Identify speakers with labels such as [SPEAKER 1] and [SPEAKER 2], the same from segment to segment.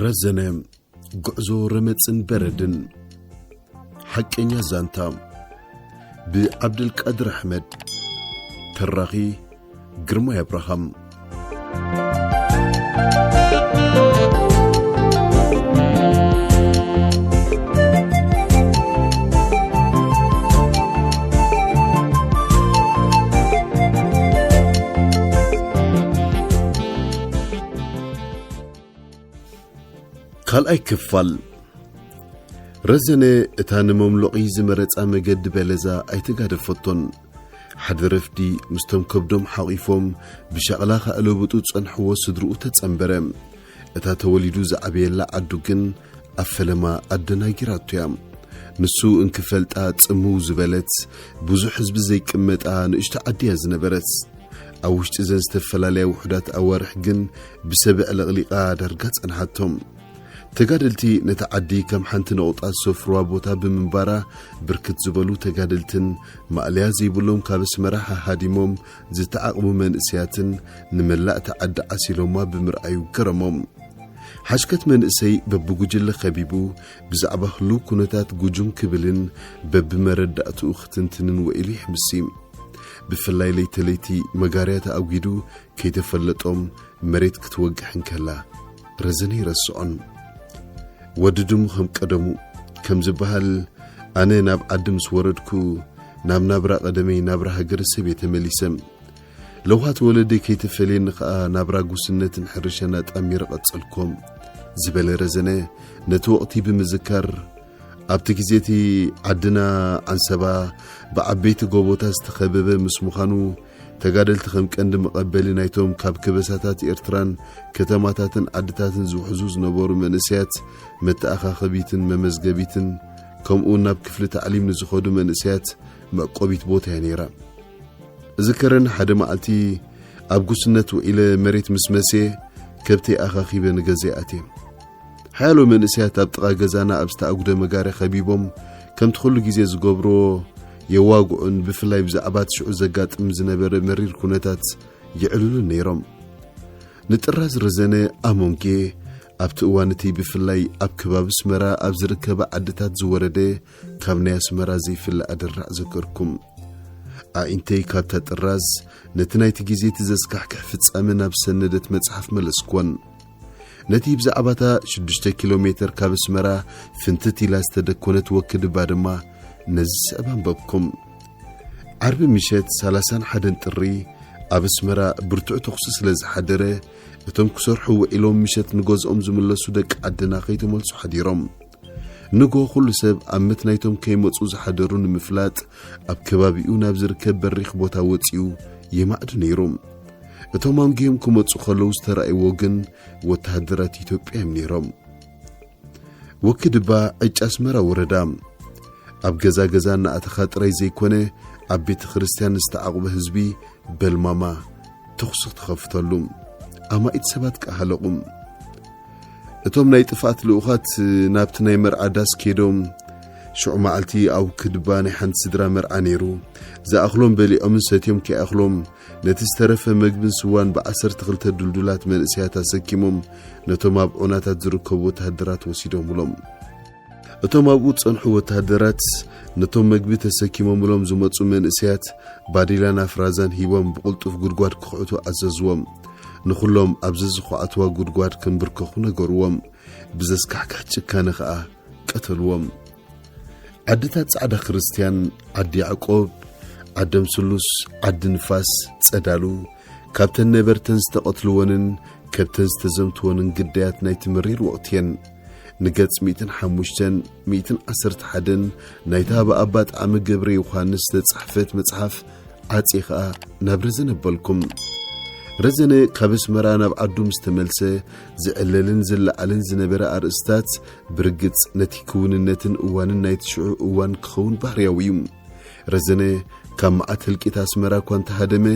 [SPEAKER 1] ረዘነ ጉዕዞ ረመፅን በረድን ሓቀኛ ዛንታ ብዓብደልቃድር ኣሕመድ ተራኺ ግርማይ ኣብርሃም ካልኣይ ክፋል ረዘነ እታ ንመምሎቒ ዝመረጻ መገዲ በለዛ ኣይተጋደፈቶን ሓደ ረፍዲ ምስቶም ከብዶም ሓቒፎም ብሻቕላ ካእለብጡ ጸንሕዎ ስድርኡ ተጸንበረ እታ ተወሊዱ ዝዓበየላ ዓዱ ግን ኣብ ፈለማ ኣደናጊራቶ እያ ንሱ እንክፈልጣ ጽምው ዝበለት ብዙሕ ህዝቢ ዘይቅመጣ ንእሽቶ ዓዲ እያ ዝነበረት ኣብ ውሽጢ ዘን ዝተፈላለያ ውሑዳት ኣዋርሕ ግን ብሰበ ዕልቕሊቓ ዳርጋ ጸንሓቶም። ተጋደልቲ ነታ ዓዲ ከም ሓንቲ ነቑጣ ዝሰፍሩዋ ቦታ ብምንባራ ብርክት ዝበሉ ተጋደልትን ማእለያ ዘይብሎም ካብ ኣስመራ ሃሃዲሞም ዝተዓቕቡ መንእሰያትን ንመላእ እታ ዓዲ ዓሲሎማ ብምርኣዩ ገረሞም። ሓሽከት መንእሰይ በብጉጅለ ከቢቡ ብዛዕባ ህሉው ኩነታት ጉጁም ክብልን በብመረዳእትኡ ክትንትንን ወኢሉ ይሕምሲ። ብፍላይ ለይተ ለይቲ መጋርያ ተኣጒዱ ከይተፈለጦም መሬት ክትወግሕ እንከላ ረዘነ ይረስዖን። ወዲ ድሙ ከም ቀደሙ ከም ዝበሃል ኣነ ናብ ዓዲ ምስ ወረድኩ ናብ ናብራ ቀደመይ ናብራ ሃገረሰብ እየ ተመሊሰ። ለውሃት ወለደይ ከይተፈልየኒ ከኣ ናብራ ጉስነትን ሕርሻን ኣጣሚረ ቀጸልኮ። ዝበለ ረዘነ ነቲ ወቕቲ ብምዝካር ኣብቲ ግዜ እቲ ዓድና ዓንሰባ ብዓበይቲ ጎቦታት ዝተኸበበ ምስ ምዃኑ ተጋደልቲ ከም ቀንዲ መቐበሊ ናይቶም ካብ ከበሳታት ኤርትራን ከተማታትን ዓድታትን ዝውሕዙ ዝነበሩ መንእሰያት መተኣኻኸቢትን መመዝገቢትን ከምኡውን ናብ ክፍሊ ታዕሊም ንዝኸዱ መንእሰያት መዕቆቢት ቦታ እያ ነይራ። እዝከረኒ ሓደ መዓልቲ ኣብ ጉስነት ውዒለ መሬት ምስ መስየ ከብተይ ኣኻኺበ ንገዛይ ኣትየ። ሓያሎ መንእሰያት ኣብ ጥቓ ገዛና ኣብ ዝተኣጉደ መጋርያ ከቢቦም ከምቲ ኩሉ ግዜ ዝገብርዎ የዋግዑን ብፍላይ ብዛዕባ እቲ ሽዑ ዘጋጥም ዝነበረ መሪር ኩነታት የዕልሉን ነይሮም። ንጥራዝ ረዘነ ኣሞንጌ ኣብቲ እዋን እቲ ብፍላይ ኣብ ከባቢ ኣስመራ ኣብ ዝርከባ ዓድታት ዝወረደ ካብ ናይ ኣስመራ ዘይፍለ ኣደራዕ ዘከርኩም ኣዒንተይ ካብታ ጥራዝ ነቲ ናይቲ ግዜ እቲ ዘስካሕክሕ ፍጻመ ናብ ሰነደት መጽሓፍ መለስክወን ነቲ ብዛዕባታ ሽዱሽተ ኪሎ ሜተር ካብ ኣስመራ ፍንትት ኢላ ዝተደኮነት ወክድባ ድማ ነዚ ስዕብ ኣንበብኩም ዓርቢ ምሸት ሰላሳን ሓደን ጥሪ ኣብ ኣስመራ ብርቱዕ ተኹሲ ስለ ዝሓደረ እቶም ክሰርሑ ውዒሎም ምሸት ንገዝኦም ዝምለሱ ደቂ ዓድና ከይተመልሱ ሓዲሮም ንግሆ ኩሉ ሰብ ኣብ መትናይቶም ከይመጹ ዝሓደሩ ንምፍላጥ ኣብ ከባቢኡ ናብ ዝርከብ በሪኽ ቦታ ወጺኡ የማእዱ ነይሩ። እቶም ኣንጊሆም ክመጹ ከለዉ ዝተራእይዎ ግን ወተሃደራት ኢትዮጵያ እዮም ነይሮም። ወክድባ ዕጭ ኣስመራ ወረዳ ኣብ ገዛ ገዛ እናኣተኻ ጥራይ ዘይኮነ ኣብ ቤተ ክርስቲያን ዝተዓቑበ ህዝቢ በልማማ ተኹሲ ክትኸፍተሉ ኣማኢት ሰባት ከኣ ሃለቑ። እቶም ናይ ጥፍኣት ልኡኻት ናብቲ ናይ መርዓ ዳስ ኬዶም ሽዑ መዓልቲ ኣብ ክድባ ናይ ሓንቲ ስድራ መርዓ ነይሩ ዝኣኽሎም በሊዖምን ሰትዮም ከይኣኽሎም ነቲ ዝተረፈ መግብን ስዋን ብዓሰርተ ክልተ ዱልዱላት መንእሰያት ኣሰኪሞም ነቶም ኣብ ዑናታት ዝርከቡ ወተሃደራት ወሲዶምሎም። እቶም ኣብኡ ዝጸንሑ ወተሃደራት ነቶም መግቢ ተሰኪሞምሎም ዝመጹ መንእሰያት ባዴላን ኣፍራዛን ሂቦም ብቕልጡፍ ጉድጓድ ክዅዕቱ ኣዘዝዎም። ንዅሎም ኣብ ዘዝዅዓትዋ ጉድጓድ ክንብርከኹ ነገርዎም፣ ብዘስካሕክሕ ጭካነ ኸኣ ቀተልዎም። ዓድታት ጻዕዳ ክርስትያን፣ ዓዲ ያዕቆብ፣ ዓደም ስሉስ፣ ዓዲ ንፋስ፣ ጸዳሉ፣ ካብተን ነበርተን ዝተቐትልወንን ከብተን ዝተዘምትወንን ግዳያት ናይቲ መሪር ወቕቲ እየን። ንገጽ ሚእትን ሓሙሽተን ሚእትን ዓሰርተ ሓደን ናይታ ብኣባ ጣዕሚ ገብረ ዮሓንስ ዝተጻሕፈት መጽሓፍ ዓፄ ኸኣ ናብ ረዘነ በልኩም ረዘነ ካብ ኣስመራ ናብ ዓዱ ምስ ተመልሰ ዝዕለልን ዝለዓልን ዝነበረ ኣርእስታት ብርግጽ ነቲ ክውንነትን እዋንን ናይ ትሽዑ እዋን ክኸውን ባህርያዊ እዩ ረዘነ ካብ መዓት ህልቂት ኣስመራ እኳ እንተሃደመ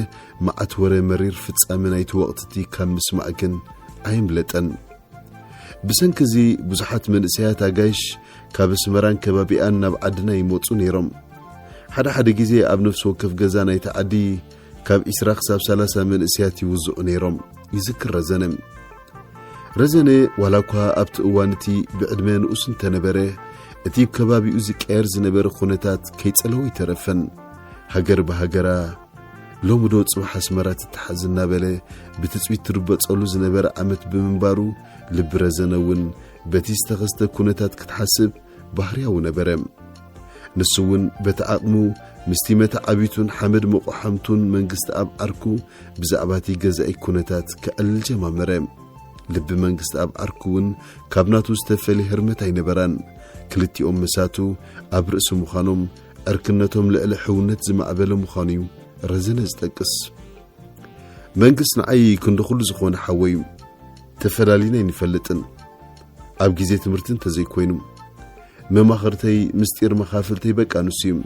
[SPEAKER 1] መዓት ወረ መሪር ፍጻመ ናይቲ ወቕትቲ ካብ ምስማዕ ግን ኣየምለጠን ብሰንኪ እዚ ብዙሓት መንእሰያት ኣጋይሽ ካብ ኣስመራን ከባቢኣን ናብ ዓድና ይመጹ ነይሮም። ሓደ ሓደ ግዜ ኣብ ነፍሲ ወከፍ ገዛ ናይቲ ዓዲ ካብ ዒስራ ክሳብ ሰላሳ መንእሰያት ይውዝዑ ነይሮም ይዝክር ረዘነ። ረዘነ ዋላ እኳ ኣብቲ እዋን እቲ ብዕድመ ንኡስ እንተነበረ እቲ ከባቢኡ ዝቀየር ዝነበረ ኩነታት ከይጸለዎ ይተረፈን ሃገር ብሃገራ ሎሚ ዶ ጽባሕ ኣስመራ ትተሓዝ እናበለ ብትጽቢት ትርበጸሉ ዝነበረ ዓመት ብምንባሩ ልቢ ረዘነ እውን በቲ ዝተኸስተ ኩነታት ክትሓስብ ባህርያዊ ነበረ። ንሱ እውን በቲ ዓቕሙ ምስቲ መተዓቢቱን ሓመድ መቆሓምቱን መንግስትኣብ ዓርኩ ብዛዕባ እቲ ገዛኢ ኩነታት ከዕልል ጀማመረ። ልቢ መንግስትኣብ ዓርኩ እውን ካብ ናቱ ዝተፈልየ ህርመት ኣይነበራን። ክልቲኦም መሳቱ ኣብ ርእሲ ምዃኖም ዕርክነቶም ልዕሊ ሕውነት ዝማዕበለ ምዃኑ እዩ ረዘነ ዝጠቅስ። መንግሥት ንዓይ ክንዲ ኹሉ ዝኾነ ሓወይ እዩ። ተፈላሊና ኣይንፈልጥን። ኣብ ግዜ ትምህርቲ እንተዘይኮይኑ መማኽርተይ ምስጢር መኻፍልተይ በቃ ንሱ እዩ።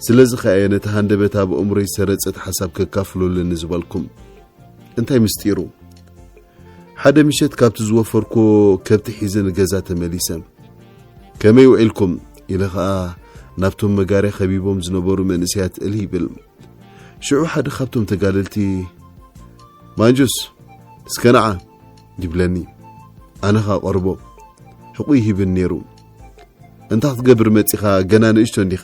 [SPEAKER 1] ስለዚ ከኣ እየ ነቲ ሃንደበት ኣብ ኣእምሮይ ሰረጸት ሓሳብ ከካፍሎ ኣለኒ ዝበልኩም። እንታይ ምስጢሩ? ሓደ ምሸት ካብቲ ዝወፈርኮ ከብቲ ሒዘ ንገዛ ተመሊሰ። ከመይ ውዒልኩም? ኢለ ኸኣ ናብቶም መጋርያ ከቢቦም ዝነበሩ መንእሰያት እልህ ይብል። ሽዑ ሓደ ካብቶም ተጋደልቲ ማንጁስ እስከ ነዓ ይብለኒ። ኣነ ኸኣ ቀርቦ ሕቑ ይህብን ነይሩ። እንታይ ክትገብር መጺኻ ገና ንእሽቶ እንዲኻ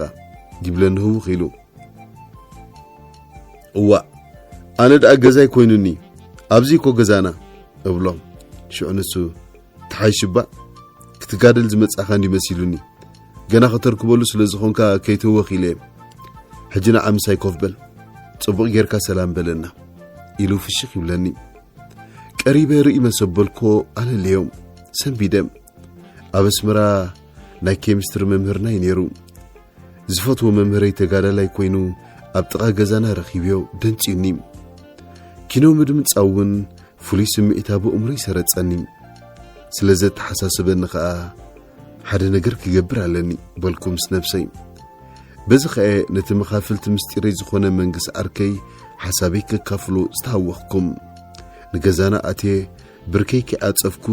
[SPEAKER 1] ይብለኒ ህውኽ ኢሉ። እዋእ ኣነ ደኣ ገዛይ ኮይኑኒ ኣብዚ እኮ ገዛና እብሎም ሽዑ ንሱ ተሓይሽባ ክትጋደል ዝመጻኻ እንዲ መሲሉኒ ገና ከተርክበሉ ስለ ዝኾንካ ከይተወኽ ኢለ ሕጂ ንዓ ምሳይ ኮፍ በል ጽቡቕ ጌርካ ሰላም በለና ኢሉ ፍሽኽ ይብለኒ ቀሪበ ርኢ መሰበልኮ ኣለለዮም ሰንቢደም ኣብ ኣስመራ ናይ ኬሚስትሪ መምህርናይ ነይሩ ዝፈትዎ መምህረይ ተጋዳላይ ኮይኑ ኣብ ጥቓ ገዛና ረኺብዮ ደንጽዩኒ ኪኖ ምድምጻው እውን ፍሉይ ስምዒት ኣብ ኣእምሮይ ሰረጸኒ ስለ ዘተሓሳስበኒ ኸኣ ሓደ ነገር ክገብር ኣለኒ በልኩ ምስ ነብሰይ በዚ ኸኣ ነቲ መኻፍልቲ ምስጢረይ ዝኾነ መንግስ ዓርከይ ሓሳበይ ከካፍሎ ዝተሃወኽኩም ንገዛና ኣቴ ብርከይ ከይዓጸፍኩ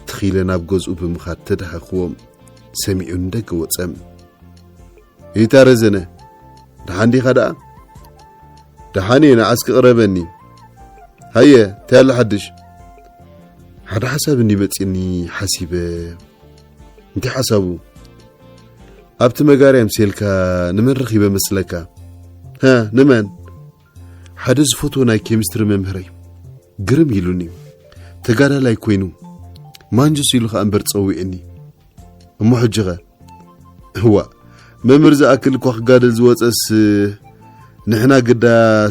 [SPEAKER 1] ትኺለ ናብ ገዝኡ ብምኻድ ተዳሃኽዎ ሰሚዑ ንደገ ወጸ። እታ ረዘነ ደሓን ዲኻ ደኣ? ደሓን እየ ንዓስ ክቕረበኒ ሃየ እንታይ ኣላ ሓድሽ ሓደ ሓሳብ እንዲ መጺኒ ሓሲበ እንታይ ሓሳቡ ኣብቲ መጋርያ ምሴልካ ንመን ረኺበ መስለካ ንመን ሓደ ዝፈትዎ ናይ ኬሚስትሪ መምህረይ ግርም ኢሉኒ ተጋዳላይ ኮይኑ ማንጁስ ኢሉ ከኣ እምበር ጸዊዑኒ እሞ ሕጂኸ እዋ መምህር ዝኣክል እኳ ክጋደል ዝወፀስ ንሕና ግዳ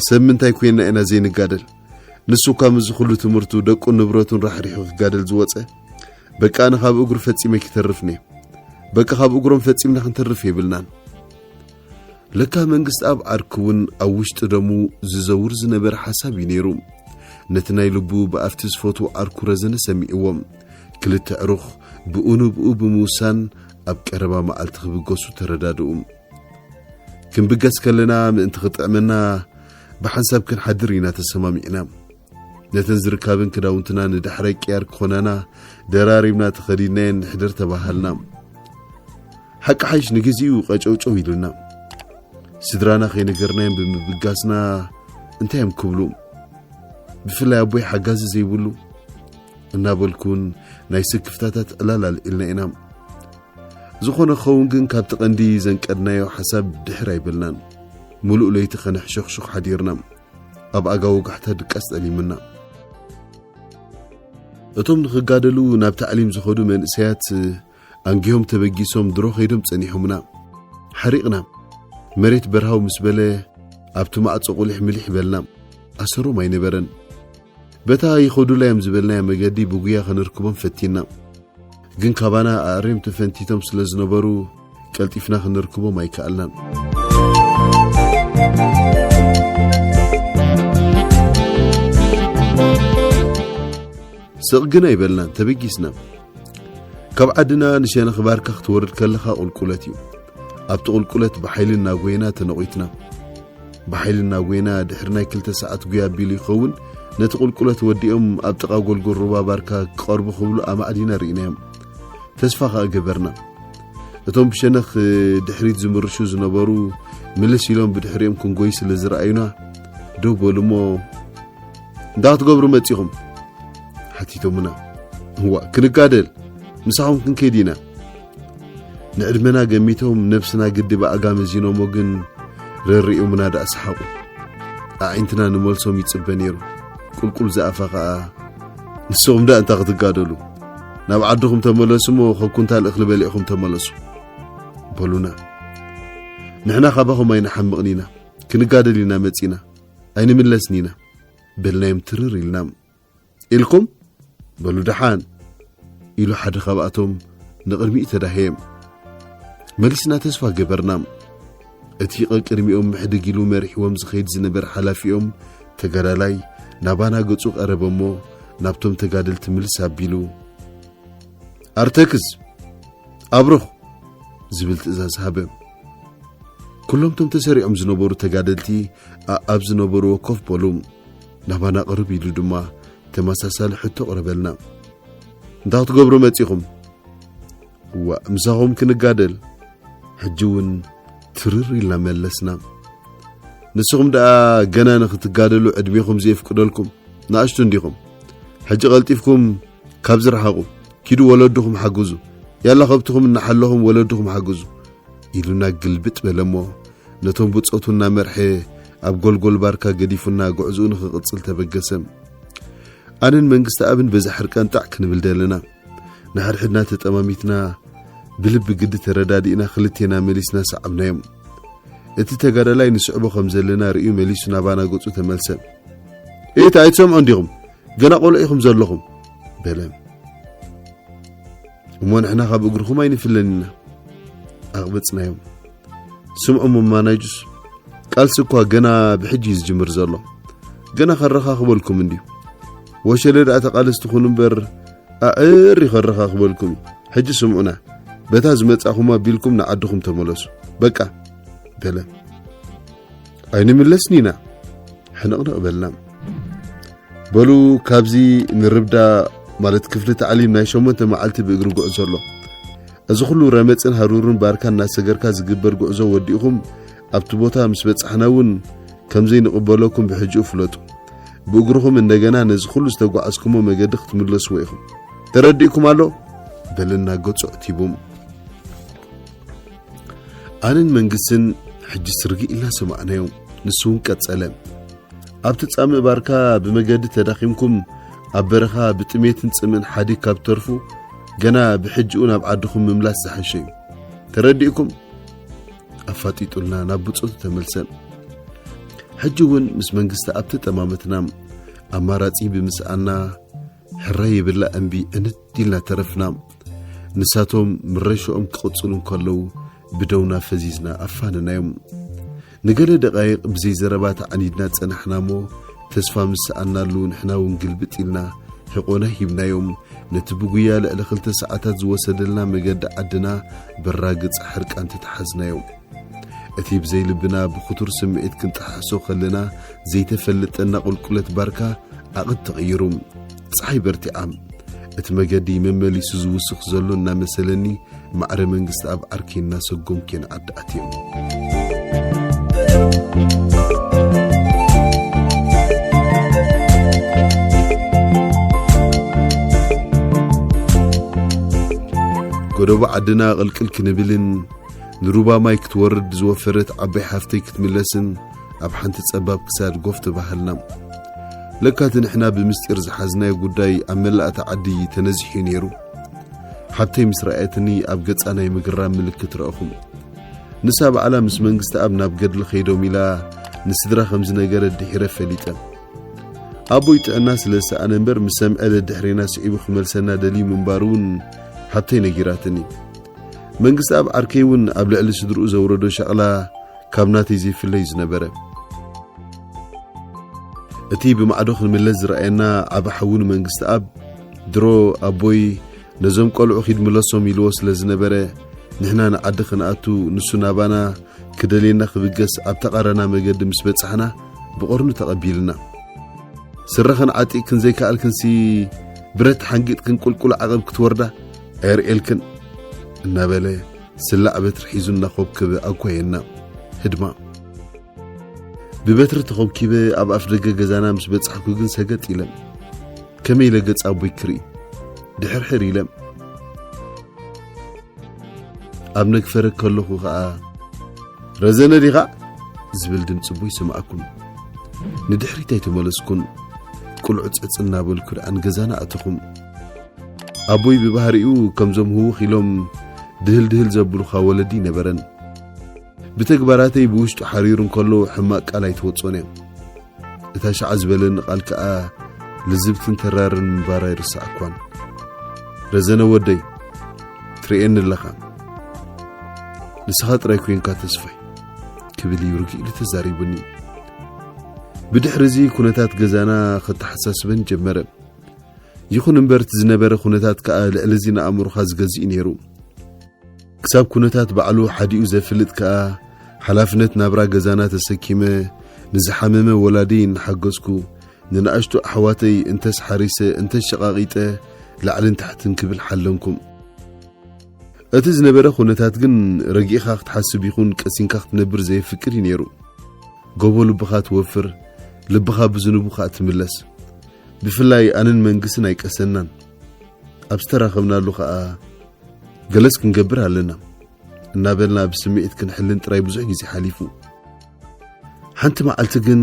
[SPEAKER 1] ሰብ ምንታይ ኮይና ኢና ዘይንጋደል ንሱ እኳ ምዚ ኩሉ ትምህርቱ ደቁን ንብረቱን ራሕሪሑ ክጋደል ዝወፀ በቃ ኣነ ካብ እግሩ ፈጺመ ክተርፍ ኔ በቃ ካብ እግሮም ፈጺምና ክንተርፍ የብልናን ለካ መንግስትኣብ ዓርኩ'ውን ኣብ ውሽጢ ደሙ ዝዘውር ዝነበረ ሓሳብ እዩ ነይሩ። ነቲ ናይ ልቡ ብኣፍቲ ዝፈትዎ ዓርኩ ረዘነ ሰሚዕዎ። ክልተ ኣዕሩኽ ብኡ ንብኡ ብምውሳን ኣብ ቀረባ መዓልቲ ክብገሱ ተረዳድኡ። ክንብገስ ከለና ምእንቲ ክጥዕመና ብሓንሳብ ክንሓድር ኢና ተሰማሚዕና። ነተን ዝርካብን ክዳውንትና ንዳሕራይ ቅያር ክኾናና ደራሪብና ተኸዲድናየን ንሕድር ተባሃልና ሓቂ ሓይሽ ንግዚኡ ቀጨውጨው ኢሉና ስድራና ከይነገርናዮም ብምብጋስና እንታይ እዮም ክብሉ ብፍላይ ኣቦይ ሓጋዚ ዘይብሉ እናበልኩን ናይ ስክፍታታት ዕላል ኣልዒልና ኢና ዝኾነ ኸውን ግን ካብቲ ቀንዲ ዘንቀድናዮ ሓሳብ ድሕር ኣይበልናን ምሉእ ለይቲ ከነሕሸኽሹኽ ሓዲርና ኣብ ኣጋ ወጋሕታ ድቃስ ጠሊምና። እቶም ንኽጋደሉ ናብ ታዕሊም ዝኸዱ መንእሰያት ኣንጊሆም ተበጊሶም ድሮ ከይዶም ጸኒሖምና። ሓሪቕና። መሬት በርሃው ምስ በለ ኣብቲ ማዕጾ ቁሊሕ ምሊሕ በልና። ኣሰሮም ኣይነበረን። በታ ይኸዱላ እዮም ዝበልናያ መገዲ ብጉያ ከነርክቦም ፈቲና። ግን ካባና ኣእርዮም ተፈንቲቶም ስለ ዝነበሩ ቀልጢፍና ክንርክቦም ኣይከኣልናን። ስቕ ግን ኣይበልናን፣ ተበጊስና። ካብ ዓድና ንሸነኽ ባርካ ክትወርድ ከለኻ ቁልቁለት እዩ። ኣብቲ ቁልቁለት ብሓይሊ እናጎይና ተነቒትና። ብሓይሊ እናጎይና ድሕሪ ናይ ክልተ ሰዓት ጉያ ኣቢሉ ይኸውን ነቲ ቁልቁለት ወዲኦም ኣብ ጥቓ ጎልጎል ሩባ ባርካ ክቐርቡ ክብሉ ኣማዕዲና ርኢናዮም። ተስፋ ከኣ ገበርና እቶም ብሸነኽ ድሕሪት ዝምርሹ ዝነበሩ ምልስ ኢሎም ብድሕሪኦም ክንጎይ ስለ ዝረኣዩና ደው በሉ እሞ እንዳ ክትገብሩ መጺኹም ሓቲቶምና እዋ ክንጋደል ምሳኹም ክንከይድ ኢና ንዕድመና ገሚቶም ነብስና ግዲ ብኣጋም እዚኖሞ ግን ረሪኦምና ደኣ ሰሓቑ ኣዒንትና ንመልሶም ይጽበ ነይሩ ቁልቁል ዝኣፋ ኸኣ ንስኹም ዳእ እንታይ ክትጋደሉ ናብ ዓድኹም ተመለሱ እሞ ካብ ኩንታል እኽሊ በሊዕኹም ተመለሱ በሉና ንሕና ካባኹም ኣይንሓምቕን ኢና ክንጋደል ኢና መፂና ኣይንምለስን ኢና በልናዮም ትርር ኢልና ኢልኩም በሉ ደሓን ኢሉ ሓደ ካብኣቶም ንቕድሚኡ ተዳህየ መልስና ተስፋ ገበርና እቲ ቐቅድሚኦም ምሕድግ ኢሉ መሪሕዎም ዝኸይድ ዝነበረ ሓላፊኦም ተጋዳላይ ናባና ገጹ ቀረበ እሞ ናብቶም ተጋደልቲ ምልስ ኣቢሉ ኣርተክዝ ኣብርኽ ዝብል ትእዛዝ ሃበ። ኩሎም ቶም ተሰሪዖም ዝነበሩ ተጋደልቲ ኣብ ዝነበርዎ ኮፍ በሉ። ናባና ቅርብ ኢሉ ድማ ተመሳሳሊ ሕቶ ቕረበልና እንታ ክትገብሩ መጺኹም እዋእ ምሳኹም ክንጋደል ሕጂ እውን ትርር ኢልና መለስና ንስኹም ደኣ ገና ንኽትጋደሉ ዕድሜኹም ዘየፍቅደልኩም ንኣሽቱ እንዲኹም ሕጂ ቐልጢፍኩም ካብ ዝረሓቑ ኪዱ ወለድኹም ሓግዙ ያላ ከብትኹም እናሓለኹም ወለድኹም ሓግዙ ኢሉና ግልብጥ በለ እሞ ነቶም ብጾቱ እናመርሐ ኣብ ጎልጎል ባርካ ገዲፉና ጉዕዝኡ ንኽቕጽል ተበገሰ ኣነን መንግስቲ ኣብን በዛ ሕርቀንጣዕ ክንብል ደለና ንሓድሕድና ተጠማሚትና ብልቢ ግዲ ተረዳዲእና ክልቴና መሊስና ሰዓብናዮም እቲ ተጋዳላይ ንስዕቦ ከም ዘለና ርእዩ መሊሱ ናባና ገጹ ተመልሰ እቲ ኣይትሰምዑ እንዲኹም ገና ቆልዑ ኢኹም ዘለኹም በለ እሞ ንሕና ካብ እግርኹም ኣይንፍለን ኢና ኣቕበጽናዮም ስምዑ መማናይጁስ ቃልሲ እኳ ገና ብሕጂ እዩ ዝጅምር ዘሎ ገና ከረኻኽበልኩም እንድዩ ወሸለ ደኣ ተቓለስቲ ኩኑ እምበር ኣዕር ይኸረኻኽበልኩም እዩ ሕጂ ስምዑና በታ ዝመጻኹም ኣቢልኩም ንዓድኹም ተመለሱ በቃ በለ ኣይንምለስን ኢና ሕንቕንቕ በልና በሉ ካብዚ ንርብዳ ማለት ክፍሊ ታዕሊም ናይ ሸሞንተ መዓልቲ ብእግሪ ጉዕዞ ኣሎ እዚ ኩሉ ረመጽን ሃሩርን ባርካ እናሰገርካ ዝግበር ጉዕዞ ወዲእኹም ኣብቲ ቦታ ምስ በጻሕና እውን ከምዘይንቕበለኩም ብሕጂኡ ፍለጡ። ብእግርኹም እንደገና ነዚ ኩሉ ዝተጓዓዝኩሞ መገዲ ክትምለስዎ ኢኹም። ተረዲእኩም ኣሎ? በለና ገጹ ዕቲቡም። ኣነን መንግስትን ሕጂስ ርግእ ኢልና ሰማዕናዮ። ንሱ እውን ቀጸለ። ኣብቲ ጻምእ ባርካ ብመገዲ ተዳኺምኩም ኣብ በረኻ ብጥሜትን ጽምእን ሓዲግ ካብ ትተርፉ ገና ብሕጂኡ ናብ ዓድኹም ምምላስ ዝሓሸ እዩ ተረዲእኩም ኣፋጢጡልና ናብ ብፆቱ ተመልሰን ሕጂ እውን ምስ መንግስቲ ኣብቲ ጠማመትና ኣማራጺ ብምስኣና ሕረ ይብላ እምቢ እንት ኢልና ተረፍና ንሳቶም ምረሽኦም ክቕፅሉ እንከለዉ ብደውና ፈዚዝና ኣፋነናዮም። ንገለ ደቓይቕ ብዘይ ዘረባ ተዓኒድና ጸናሕና እሞ ተስፋ ምስ ሰኣናሉ ንሕና እውን ግልብጥ ኢልና ሕቖና ሂብናዮም። ነቲ ብጉያ ልዕሊ ክልተ ሰዓታት ዝወሰደልና መገዲ ዓድና በራግጽ ሕርቃን ተተሓዝናዮ። እቲ ብዘይ ልብና ብክቱር ስምዒት ክንጠሓሕሶ ከለና ዘይተፈልጠና ቁልቁለት ባርካ ዓቕት ተቐይሩ። ፀሓይ በርቲዓ እቲ መገዲ መመሊሱ ዝውስኽ ዘሎ እናመሰለኒ ማዕረ መንግስቲ ኣብ ዓርኪ እናሰጎምኪ ንዓዲ ኣትዮም ጎደቦ ዓድና ቅልቅል ክንብልን ንሩባ ማይ ክትወርድ ዝወፈረት ዓባይ ሓፍተይ ክትምለስን ኣብ ሓንቲ ጸባብ ክሳድ ጎፍ ተባሃልና። ለካ እቲ ንሕና ብምስጢር ዝሓዝናዮ ጉዳይ ኣብ መላእታ ዓዲ ተነዚሑ ነይሩ። ሓብተይ ምስ ረኣየትኒ ኣብ ገጻ ናይ ምግራም ምልክት ረእኹ። ንሳ ባዕላ ምስ መንግስተኣብ ናብ ገድሊ ከይዶም ኢላ ንስድራ ከም ዝነገረት ድሒረ ፈሊጠ። ኣቦይ ጥዕና ስለ ዝሰኣነ እምበር ምስ ሰምዐ ደድሕሬና ስዒቡ ክመልሰና ደልዩ ምንባሩ እውን ሓብተይ ነጊራትኒ። መንግስተኣብ ዓርከይ እውን ኣብ ልዕሊ ስድርኡ ዘውረዶ ሸቕላ ካብ ናተይ ዘይፍለዩ ዝነበረ እቲ ብማዕዶ ክንምለስ ዝረኣየና ዓብ ሓዊ ንመንግስቲ ኣብ ድሮ ኣቦይ ነዞም ቆልዑ ኺድ ምለሶም ኢልዎ ስለ ዝነበረ ንሕና ንዓዲ ክንኣቱ ንሱ ናባና ክደልየና ክብገስ ኣብ ተቓረና መገዲ ምስ በጻሕና ብቐርኑ ተቐቢልና ስረኽን ዓጢቕክን ዘይከኣልክንሲ ብረት ሓንጊጥክን ቁልቁል ዓቐብ ክትወርዳ ኣየርእየልክን እናበለ ስላዕ በትሪ ሒዙ እናኾብከበ ኣጓየና። ህድማ ብበትሪ ተኾብኪበ ኣብ ኣፍ ደገ ገዛና ምስ በጻሕኩ ግን ሰገጥ ኢለ ከመይ ኢለ ገጽ ኣቦይ ክርኢ ድሕርሕር ኢለ ኣብ ነግፈረ ከለኹ ኸኣ ረዘነ ዲኻ ዝብል ድምፂ ቦይ ሰማዕኩን ንድሕሪት ኣይተመለስኩን ቁልዑ ፀፅ እናበልኩ ደኣ ንገዛና ኣተኹም ኣቦይ ብባህሪኡ ከምዞም ህውኽ ኢሎም ድህል ድህል ዘብሉኻ ወለዲ ኣይነበረን። ብተግባራተይ ብውሽጡ ሓሪሩ እንከሎ ሕማቅ ቃል ኣይትወጾን እያ። እታ ሸዓ ዝበለኒ ቃል ከኣ ልዝብትን ተራርን ምንባራ ኣይርሳዕኳን። ረዘነ ወደይ ትርእየኒ ኣለኻ ንስኻ ጥራይ ኮንካ ተስፋይ ክብል እዩ ርግእ ኢሉ ተዛሪቡኒ። ብድሕሪ እዚ ኩነታት ገዛና ከተሓሳስበን ጀመረ። ይኹን እምበር እቲ ዝነበረ ኩነታት ከኣ ልዕሊ እዚ ንኣእምሮኻ ዝገዝእ እዩ ነይሩ። ክሳብ ኩነታት ባዕሉ ሓዲኡ ዘፍልጥ ከኣ ሓላፍነት ናብራ ገዛና ተሰኪመ ንዝሓመመ ወላዲይ እናሓገዝኩ፣ ንንኣሽቱ ኣሕዋተይ እንተስ ሓሪሰ እንተስ ሸቓቒጠ ላዕልን ታሕትን ክብል ሓለንኩም። እቲ ዝነበረ ኩነታት ግን ረጊእኻ ክትሓስብ ይኹን ቀሲንካ ክትነብር ዘየፍቅድ እዩ ነይሩ። ጎቦ ልብኻ ትወፍር፣ ልብኻ ብዝንቡ ከኣ ትምለስ። ብፍላይ ኣነን መንግስትን ኣይቀሰናን ኣብ ዝተራኸብናሉ ከኣ ገለስ ክንገብር ኣለና እናበልና ብስምዒት ክንሕልን ጥራይ ብዙሕ ግዜ ሓሊፉ ሓንቲ መዓልቲ ግን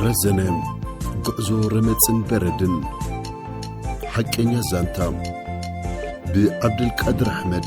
[SPEAKER 1] ረዘነ ጉዕዞ ረመፅን በረድን ሓቀኛ ዛንታ ብዓብደልቃድር ኣሕመድ